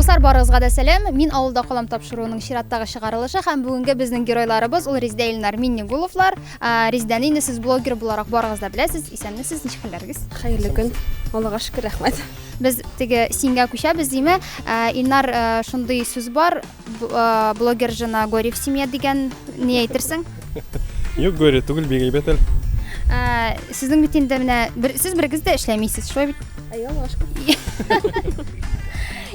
Дуслар, барыгызга да сәлам. Мин авылда калам тапшыруының чираттагы чыгарылышы һәм бүгенге безнең геройларыбыз ул Резидә Илнар Миннегуловлар. Ә, Резидәне инде сез блогер буларак барыгыз да беләсез. Исәнмесез, ничек хәлләрегез? Хәерле көн. Аллага шөкер, рәхмәт. Без теге сингә күчәбез, диме? Ә, Илнар, ә, шундый сүз бар, Блогер жена горе в семье дигән ни әйтерсең? Юк, горе түгел, бик әйбәт әле. Сезнең бит инде менә сез берегез дә эшләмисез, шулай бит? Әйе, башка.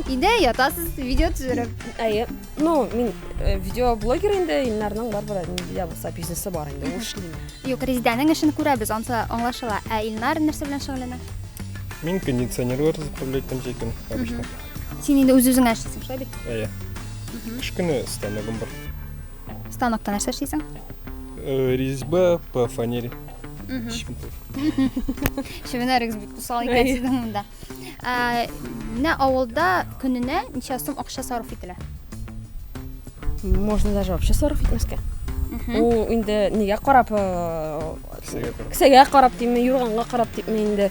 Инде ятасыз, видео төзереп. Әйе. Ну, мин э, видео блогер инде, Илнарның бар бер видео булса бизнесы бар инде, ул эшли. Юк, Резидәнең эшен күрәбез, анса аңлашыла. Ә Илнар нәрсә белән шөгыльләнә? Мин кондиционерлар заправлять итәм җәйкен, обычно. Син инде үз-үзеңә эшлисең, шулай бит? Әйе. Кечкенә станогым бар. Станокта нәрсә эшлисең? Э, Резьба по фанере. Шевенәрегез бик усал икән сезнең монда. Ә, Менә авылда көненә ничә сум акча сарыф ителә? Можно даже вообще сарыф итмәскә. Ул инде нигә карап, э, Кесәгә карап. кесәгә карап димме, юрганга карап димме инде.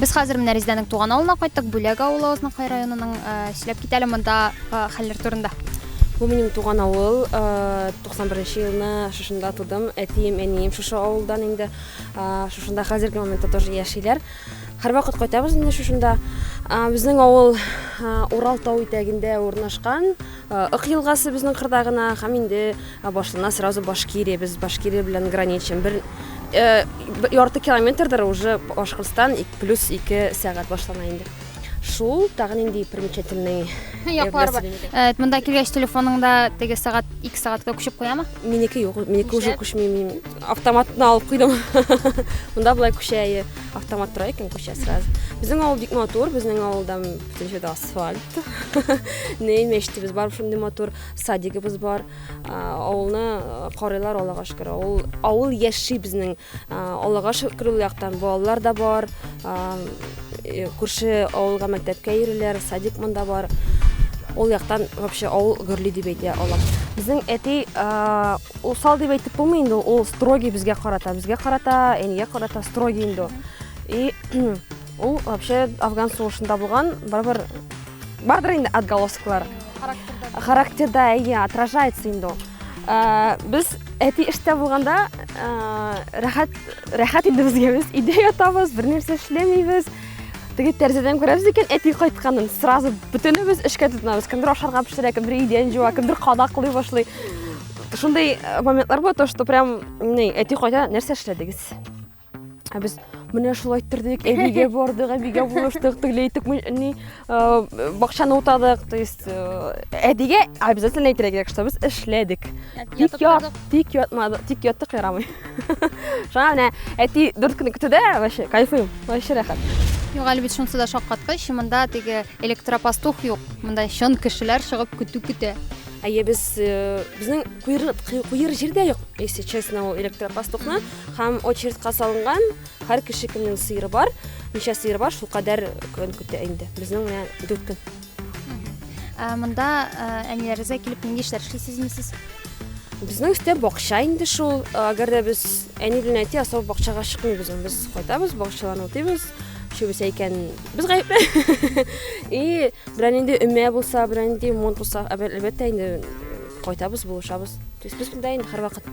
Без хәзер менә Резидәнең туган авылына кайттык, Бүләк авылы Азнакай районының. Э, сөйләп китә әле монда э, хәлләр турында. Бу минем туган авыл. 91 э, нче елны шушында тудым. Әтием, әнием шушы авылдан инде. Шушында хәзерге моментта тоже яшиләр. Һәрвакыт кайтабыз инде шушында. Безнең авыл Урал тау итәгендә урнашкан. Ык елгасы безнең кырда гына һәм инде башына сразу Башкирия, без Башкирия белән граничим. Бер ярты километрдыр уже Башкортстан плюс ике сәгать башлана инде. Шул тагын инде примечательный яклар бар. Э, монда килгәч телефоныңда теге сәгать 2 сәгатькә күчеп куямы? Минеке юк, минеке уже күчми, мин автоматны алып куйдым. Монда болай күчә, автомат тора икән күчә сразу. Безнең авыл бик матур, безнең авылда Икенче дә асфальт. Ней мәчетебез бар, шундый матур садигыбыз бар. Авылны карыйлар Аллага шөкер. Авыл авыл яши безнең. Аллага шөкер ул яктан балалар да бар. Э, күрше авылга мәктәпкә йөриләр, садик монда бар. Ул яктан вообще авыл гөрли дип әйтә алам. Безнең әти усал дип әйтеп булмый инде, ул строгий безгә карата, безгә карата, әнигә карата строгий инде. И Ул вообще афган сугышында булган барыбер бардыр инде отголосклар. Характерда. Характерда әйе, отражается инде ул. Ә, без әти эштә булганда ә, рәхәт рәхәт инде безгә без өйдә ятабыз, бернәрсә эшләмибез. Теге тәрәзәдән күрәбез икән әти кайтканын. Сразу бөтенебез эшкә тотынабыз. Кемдер ашарга пешерә, кемдер идән җуа, кемдер кадаклый башлый. Шундый моментлар бар, то что прям әти кайта нәрсә эшләдегез? Ә без менә шулай тордык, әбигә бардык, әбигә булыштык, тегеләй итеп ни э, бакчаны утадык. То есть э, әбигә обязательно әйтергә кирәк, что без эшләдек. Тик ят, тик ятмадык, тик яттык ярамый. Шуңа менә әти дүрт көн көтүдә вообще кайфыйм, вообще рәхәт. Юк, әле бит шунысы да шаккаткыч, монда теге электропастух юк. Монда чын кешеләр чыгып көтү көтә. Әйе, без э, безнең куер куер җирдә юк, если честно, ул электропастухны. Һәм очередька салынган һәр кеше кемнең сыеры бар, ничә сыеры бар, шул кадәр көн көтә инде. Безнең менә дүрт көн. Ә, Монда ә, әниләрегезгә килеп нинди эшләр эшлисез инде сез? Безнең өстә бакча инде шул. Әгәр дә без әни белән әти асау бакчага чыкмыйбыз. Без кайтабыз, бакчаларны утыйбыз. Шубесе икән, без гаепле. И берәр нинди өмә булса, берәр нинди монт булса, әлбә- әлбәттә инде кайтабыз, булышабыз. То есть без монда инде һәрвакыт.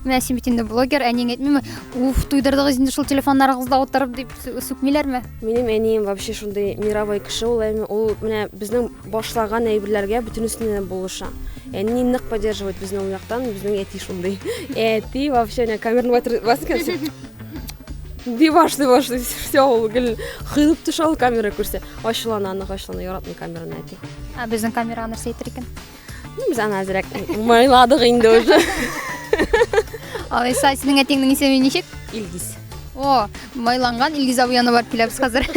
Менә син бит инде блогер, әниең әйтмиме? Уф, туйдырдыгыз инде шул телефоннарыгызда утырып дип сүкмиләрме? Минем әнием вообще шундый мировой кеше ул әни. Ул менә безнең башлаган әйберләргә бөтенесенә булыша. Әни нык поддерживает безне ул яктан, безнең әти шундый. Әти вообще менә камерны батыр баскан. Диваш, диваш, все ул гел кыйлып төшә ул камера күрсә. Ачулана, аны ачулана, яратмый камераны әти. Ә безнең камера нәрсә әйтер икән? Без аны әзрәк мыйладык инде уже. Алайса, синең әтиңнең исеме ничек? Илгиз. О, майланган Илгиз абый аны барып киләбез хәзер.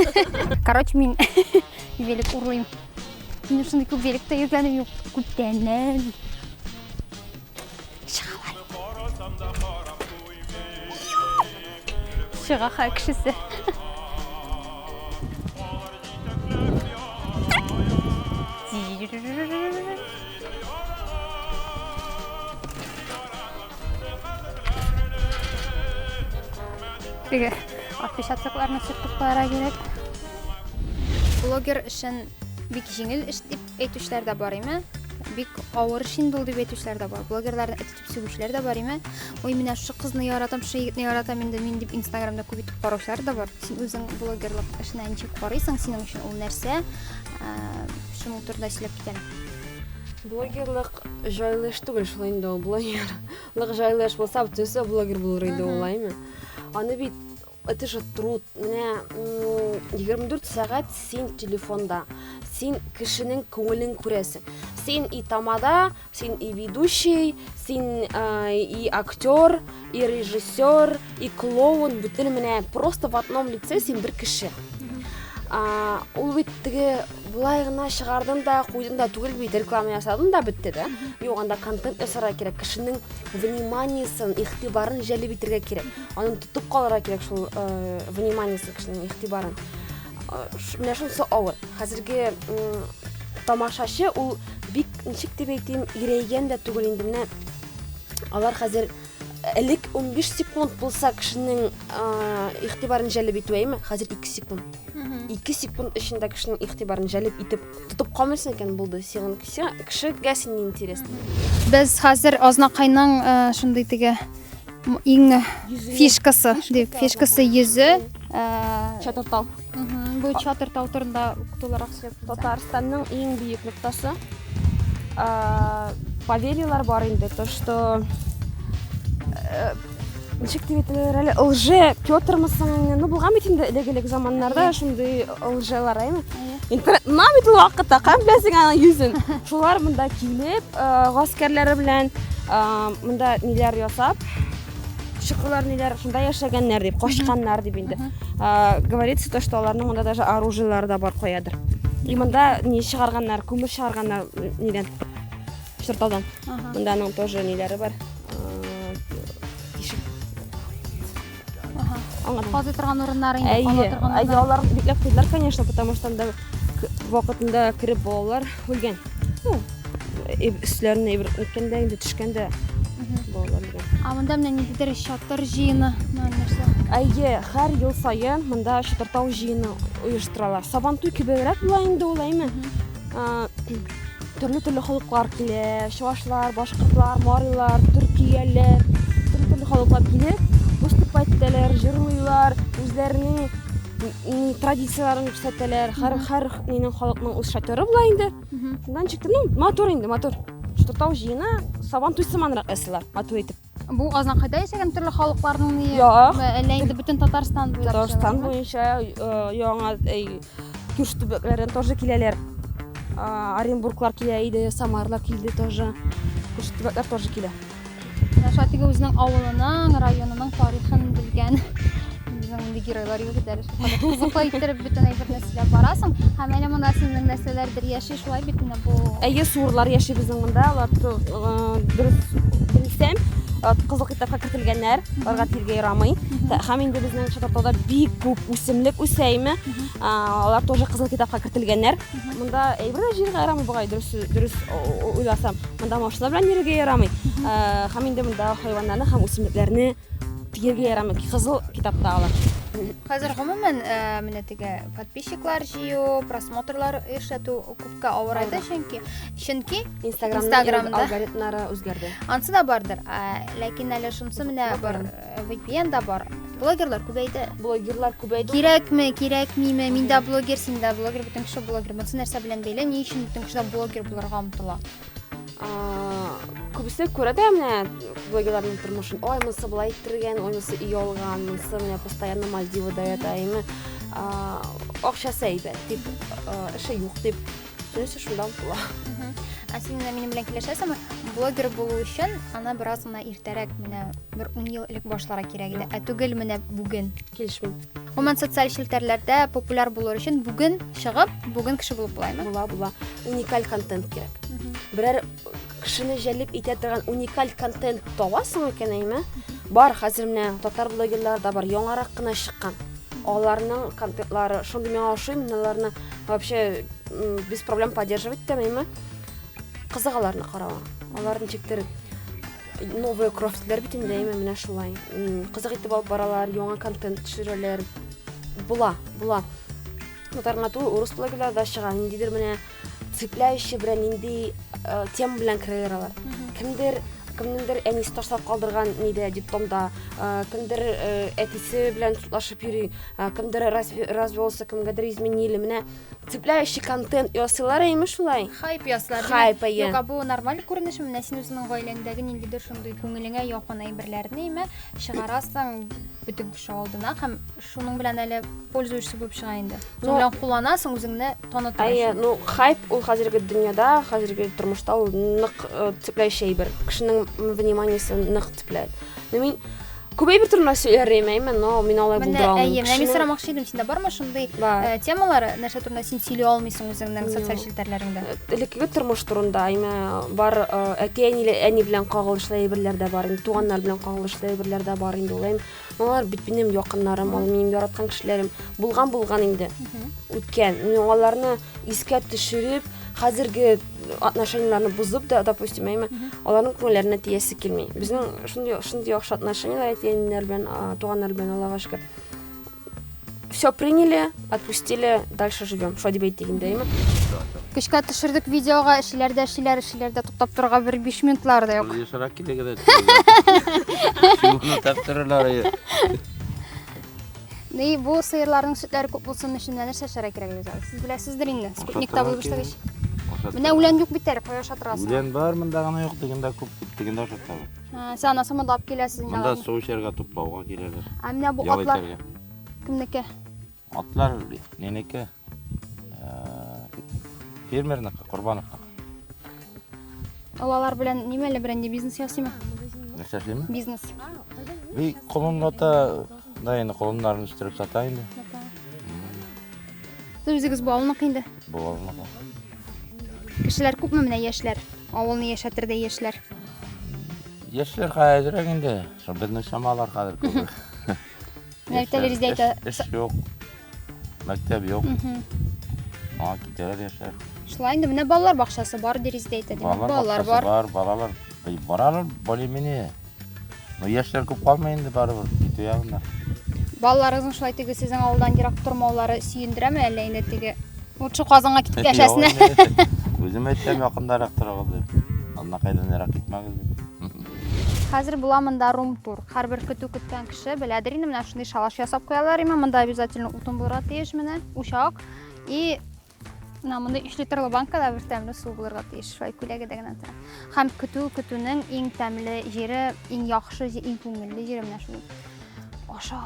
Короче, мин велик урлыйм. Мин шундый күп великта йөргәнем юк. Күптәннән. Чыгаха кешесе. Теге отпечатокларны сүтеп куярга кирәк. Блогер эшен бик җиңел эш дип әйтүчеләр дә бар име? Бик авыр эш инде ул дип әйтүчеләр дә бар. Блогерларны Сүгешләр дә бар име? Ой, менә шу кызны яратам, шу егетне яратам инде мин дип Инстаграмда күп итеп караучылар да бар. Син үзең блогерлык эшенә ничек карыйсың? Синең өчен ул нәрсә? Ә, Шуның турында сөйләп китәле. Блогерлык җайлы эш түгел шул инде ул блогерлык җайлы эш булса, бөтенесе блогер булыр иде ул, әйме? Аны бит Это же труд, менә 24 сәгать син телефонда, син кешенең күңелен күрәсең. Син и тамада, син и ведущий, син и актер, и режиссер, и клоун, бөтен менә просто в одном лице син бер кеше. А, ул бит теге былай гына чыгардың да, куйдың да түгел бит, реклама ясадың да бетте дә. Юк, анда контент ясарга кирәк, кешенең вниманиесен, игътибарын җәлеп итәргә кирәк. Аны тотып калырга кирәк шул э, вниманиесе кешенең игътибарын. Э, ш- Менә шунысы авыр. Хәзерге м, тамашачы ул бик ничек дип әйтим, ирәйгән дә түгел инде менә алар хәзер элек 15 секунд булса кешенең э, игътибарын җәлеп итү әйме, хәзер 2 секунд. 2 секунд эчендә кешенең игътибарын җәлеп итеп Тотып калмыйсың икән, булды. Сиңа кешегә син не интерес. Без хәзер Азнакайның э, шундый теге иң фишкасы, дип, фишкасы йөзе. Э, Чатыртау. Бу Чатыртау турында тулырак сөйләп. Татарстанның иң бөек ноктасы. Э, поверьялар бар инде, то что ничек дип әйтәләр әле лже петрмы соң инде ну булган бит инде элек элек заманнарда шундый лжелар әйме интернет мына бит ул вакытта каян беләсең аның йөзен шулар монда килеп гаскәрләре белән монда ниләр ясап чыкулар ниләр шунда яшәгәннәр дип качканнар дип инде говорится то что аларның монда даже оружиелары да бар каядыр и монда ни чыгарганнар күмер чыгарганнар нидән Чырталдан. Монда аның тоже ниләре бар. Тишек. Аңлатам. Казый торган урыннар инде, ала торган урыннар. Әйе, алар бикләп куйдылар, конечно, потому что анда вакытында кереп балалар үлгән. Ну, өсләренә ибрәт иткәндә, инде төшкәндә балалар үлгән. А монда менә ниндидер чатыр җыены, нәрсә? Әйе, һәр ел саен монда чатыртау җыены оештыралар. Сабантуй кебегрәк була инде ул, әйме? Төрле-төрле халыклар килә, чувашлар, башкортлар, марилар, төркияләр, төрле-төрле халыклар килеп, выступать итәләр, җырлыйлар, үзләренең традицияләрен күрсәтәләр. Һәр һәр нинең халыкның үз шатыры була инде. Шуннан чыкты, ну, матур инде, матур. Что тау җыена, сабан туй сыманрак ясыйлар, матур итеп. Бу Азнакайда яшәгән төрле халыкларның ни? Юк. Әллә инде бөтен Татарстан буйлап Татарстан буенча э, яңа Күш төбәкләрдән тоже киләләр. Оренбурглар килә иде, Самарлар килде тоже. Күш төбәкләр тоже килә. Шатиге үзенең авылының, районының тарихын белгән Безнең инде геройлар юк иде әле шул кадәр кызыклы иттереп бөтен әйберне сөйләп барасың. Һәм әле монда сезнең нәрсәләрдер яши Шулай бит менә бу. Әйе, суырлар яши безнең монда. Алар дөрес белсәм, кызыл китапка кертелгәннәр, аларга тиргә ярамый. Һәм инде безнең Шататауда бик күп үсемлек үсә име, алар тоже кызыл китапка кертелгәннәр. Монда әйбер дә җиргә ярамый бугай, дөрес дөрес уйласам. Монда машина белән йөрергә ярамый. Һәм инде монда хайваннарны һәм үсемлекләрне тияргә ярамый. Кызыл китапта алар. Хәзер гомумән менә теге подписчиклар җыю, просмотрлар эшләтү күпкә авырайды, чөнки чөнки Инстаграмның алгоритмнары үзгәрде. Ансы да бардыр. Ләкин әле шунсы менә бар э, VPN да бар. Блогерлар күбәйде. Блогерлар күбәйде. Кирәкме, кирәкмиме? Мин дә блогер, син дә блогер, бөтен кеше блогер. Монсы нәрсә белән бәйле? Ни өчен бөтен кеше блогер булырга омтыла? күбесе күрә дә менә блогерларның тормышын ой монысы былай иттергән ой монысы өй алган монысы менә постоянно мальдивада ята ими акчасы әйбәт дип эше юк дип шунысы шунда омтыла ә син менә минем белән килешәсеңме блогер булу өчен ана бераз гына иртәрәк менә бер ун ел элек башлара кирәк иде ә түгел менә бүген килешмим Гомумән, социаль челтәрләрдә популяр булыр өчен бүген чыгып, бүген кеше булып булаймы? Була, була. Уникаль контент кирәк. Берәр кешене җәлеп итә торган уникаль контент табасың икән, әйме? Бар, хәзер менә татар блогерлары да бар, яңарак кына чыккан. Аларның контентлары шундый миңа ошый, мин аларны вообще м, без проблем поддерживать итәм, әйме? Кызык аларны каравың. Аларны чиктереп Новые крофтлар битендәйме менә шулай. Кызык итеп алып баралар, яңа контент төшерәләр. Була, була. Татарга ту урыс блогерлар да чыга. Ниндидер менә цепляющий белән нинди э, тем белән керәләр алар. Кемдер кемнеңдер әнисе ташлап калдырган нидә диптомда, э, кемдер э, әтисе белән тутлашып йөри, э, кемдер разве развелся, кемгәдер изменили. Менә Цепляющий контент ясыйлар әйме шулай? Хайп ясылар. Хайп, әйе. Юк, бу нормаль күренешме? Менә син үзеңнең гаиләңдәге ниндидер шундый күңелеңә якын әйберләрне әйме чыгарасың бөтен кеше алдына һәм шуның белән әле пользуешься булып чыга инде. Шуның белән кулланасың, үзеңне танытыр өчен. Әйе, ну хайп ул хәзерге дөньяда, хәзерге тормышта ул нык цепляющий әйбер. Кешенең вниманиесен нык цепляет. Ну мин Күбәй бер төрмә сөйләр имәйме, но мин алай булдыра алмыйм. Әйе, менә мин сорамакчы идем, синдә бармы шундый э, темалар, нәрсә турында син сөйли алмыйсың үзеңнең социаль челтәрләреңдә? Э, элеккеге тормыш турында, әйме, бар э, әти әни, әни белән кагылышлы әйберләр дә бар, инде туганнар белән кагылышлы әйберләр дә бар инде улым. Алар бит минем якыннарым, алар минем яраткан кешеләрем. Булган булган инде. Үткән. Мин аларны искә төшереп, хәзерге отношениеләрне бозып да, допустим, әйме, аларның күңелләренә тиясе килми. Безнең шундый шундый яхшы отношениеләр әтиәниләр белән, туганнар белән Аллага шөкер. Все приняли, отпустили, дальше живем. Шулай дип әйтик инде, әйме. Көчкә төшердек видеога, эшләр дә эшләр, эшләр дә туктап торырга бер 5 минутлар да юк. Юсарак килегез. Чуны таптыралар. Ни, бу сыерларның сөтләре күп булсын өчен менә нәрсә эшләргә кирәк әле зал? Сез беләсездер инде. Спутник табу башлагач. Менә үлән юк бит әле, кая ашап торасың? Үлән бар, монда гына юк, дигәндә күп, дигәндә ашап торам. Сез ана самада алып киләсез инде. Монда су эчәргә туплауга киләләр. Ә менә бу атлар кемнеке? Атлар ненеке? Фермерныкы, Корбановныкы. Ул алар белән нимә әле берәнди бизнес ясыймы? Нәрсә эшлиме? Бизнес. Би колонната да инде колоннарын үстереп сата инде. Сез үзегез бу авылныкы инде. Бу авылныкы. Кешеләр күпме менә яшьләр? Авылны яшәтердәй яшьләр. Яшьләр хәзерәк инде. Шул безнең чамалар хәзер күбрәк. Мәктәп дөрес әйтә. Эш, эш юк. Мәктәп юк. Аңа китәләр яшьләр. Шулай инде менә балалар бакчасы бар дөрес әйтә. Балалар, балалар бар. Бар, балалар. Баралар более-менее. Но яшьләр күп калмый инде барыбер китү ягында. Балаларыгызның шулай теге сезнең авылдан ерак тормаулары сөендерәме әллә инде теге лучше Казанга китеп яшәсенә? Үзем әйтәм, якындарак торыгыз дип. Аннакайдан ерак китмәгез дип. Хәзер була монда рум-тур. Һәрбер көтү көткән кеше беләдер инде, менә шундый шалаш ясап куялар имә, монда обязательно утын булырга тиеш менә, учак. И Мына монда 3 литрлы банкада бер тәмле су булырга тиеш, шулай күләгәдә генә тора. Һәм көтү көтүнең иң тәмле җире, иң яхшы, иң күңелле җире менә шул. Аша.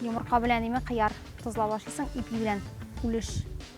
Йомырка белән име кыяр тозлап ашыйсың, ипи белән үлеш.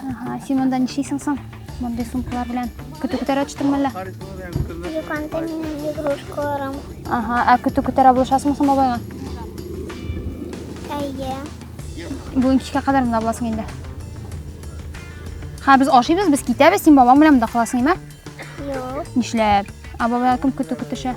Ага, син монда нишлисең соң? Мондый сумкалар белән көтү көтәрә төштең мәллә? Юк, анда минем игрушкаларым. Ага, ә көтү көтәрә булышасыңмы соң бабайга? Әйе. Бүген кичкә кадәр монда буласың инде. Ха, без ашыйбыз, без китәбез, син бабаң белән монда каласың, име? Юк. Нишләп? А бабайга кем көтү көтешә?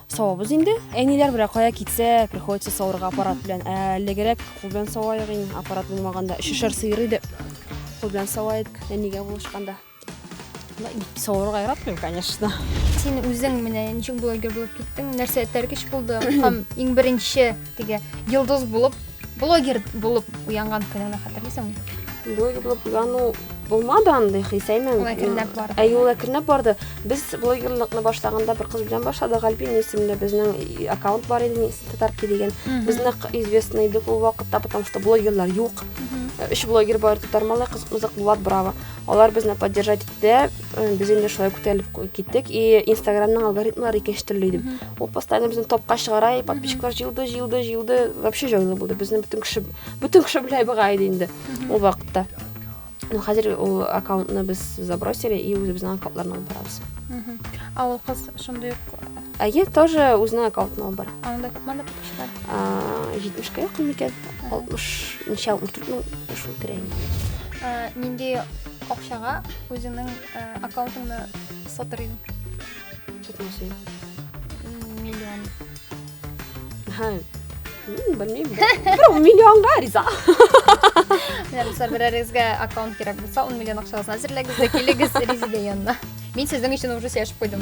Савабыз инде. Әниләр белән кая китсә, приходится савырга аппарат белән. Ә әлегерәк кул белән саваек инде, аппарат булмаганда. Өчешәр сыер иде. Кул белән саваек, әнигә булышканда. Савырга яратмыйм, конечно. Син үзең менә ничек блогер булып киттең? Нәрсә этәргеч булды? Һәм иң беренче Теге йолдыз булып, блогер булып уянган көнеңне хәтерлисеңме? Блогер булып уяну булмады андый хисәймен. Ул әкренләп барды. Әй, ул әкренләп барды. Без блогерлыкны башлаганда бер кыз белән башладык. Альбин исемле безнең аккаунт бар иде, Нис татарки дигән. Без нык известный идек ул вакытта, потому что блогерлар юк. Өч блогер бар, Татармалай, Кызык Булат, Браво. Алар безне поддержать дә без инде шулай күтәрелеп киттек и инстаграмның алгоритмлары икенче төрле иде ул постоянно безне топка чыгара и подписчиклар җыелды җыелды җыелды вообще җайлы булды безне бөтен кеше бөтен кеше белә быга иде инде ул вакытта ну хәзер ул аккаунтны без забросили и үзебезнең аккаунтларны алып барабыз а ул кыз шундый ук әйе тоже үзенең аккаунтын алып бара анда күпме подписчиклар җитмешкә якын микән 60 64 мең шул тирә инде. Э, нинди акчага үзеңнең э, аккаунтыңны сатыр идең? Китмәсен. Миллион. Ха. Белмим. Бер миллионга риза. Менә без берәрегезгә аккаунт кирәк булса, 10 миллион акчасын әзерләгез дә килегез Резидә янына. Мин сезнең өчен уже сөйләшеп куйдым.